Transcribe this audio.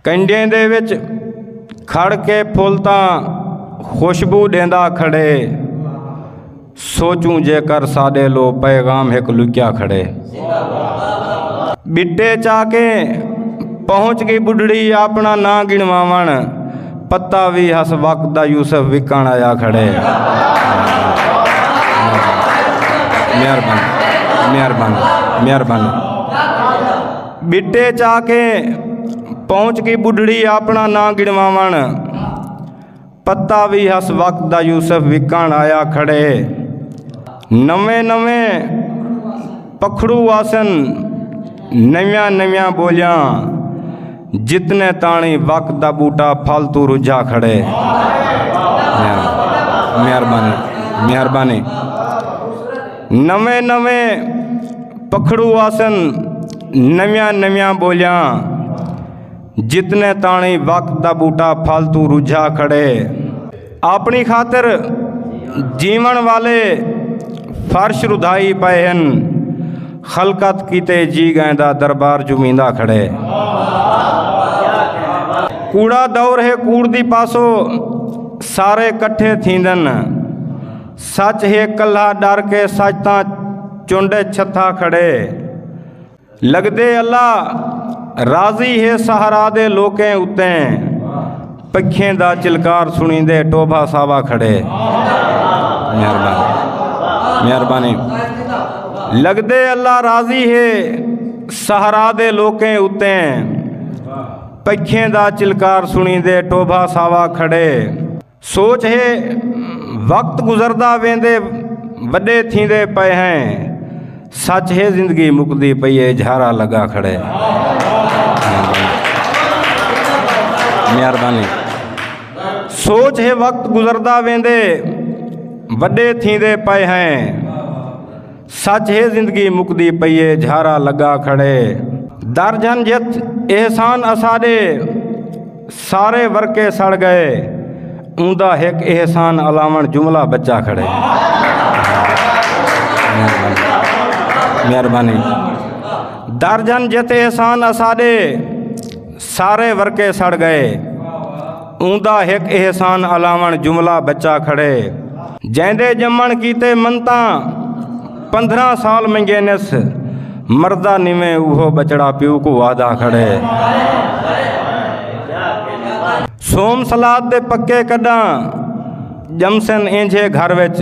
کنڈیں دے وچ کھڑ کے پھل تاں خوشبو ڈیندا کھڑے سوچوں جے کر ساڈے لو پیغام ہک لکیا کھڑے بٹے چا کے پہنچ گئی بڈڑی اپنا نہ گنواون پتا وی ہس وقت دا یوسف وکن آیا کھڑے مہربانی مہربانی مہربانی ٻٹے چا کے پہنچ گئی بڈھڑی اپنا ناں گنواون پتا بھی ہس وقت دا یوسف وکن آیا کھڑے نویں نویں پکھڑو آسن نویاں نویاں بولیاں جتنے تانی وقت دا بوٹا پھل تو رجھا کھڑے مہربانی مہربانی نویں نویں پکھڑو آسن نویاں نویاں بولیاں جتنے تانی وقت دا بوٹا پھل تو رجھا کھڑے اپنی خاطر جیون والے فرش ردھائی پائے ہیں خلقت کیتے جی گئے دا دربار جمیندہ کھڑے کوڑا دور ہے کوڑ دی پاسو سارے کٹھے تھیندن سچ ہے کلھا ڈر کے سچ تاں چنڈے چھتھا کھڑے لگدے اللہ راضی ہے سہارا دے لوکیں اتیں پکھیں دا چلکار سنی دے ٹوبھا ساوا کھڑے مہربانی لگدے اللہ راضی ہے سہارا دے لوکیں اتیں پکھیں دا چلکار سنی دے ٹوبھا ساوا کھڑے سوچ ہے وقت گزردا ویندے وڈے تھیندے پئے ہیں سچ ہے زندگی مکدی پئی ہے جھارا لگا کھڑے مہربانی سوچ ہے وقت گزردا ویندے وڈے تھیندے پئے ہیں سچ ہے زندگی مکدی پئیے جھارا لگا کھڑے در جھن جت احسان اساڈے سارے ورکے سڑ گئے اوندا ہک احسان الاون جملہ بچا کھڑے مہربانی در جھن جت احسان اساڈے سارے ورکے سڑ گئے اوندا ہک احسان علاوݨ جملہ بچا کھڑے جیندے جمن کیتے منتاں پندرہ سال منگینس مردہ نیویں اوہو بچڑا پیو کو وعدہ کھڑے سوم سلاد دے پکے کڈاں جمسن اینجھے گھر وچ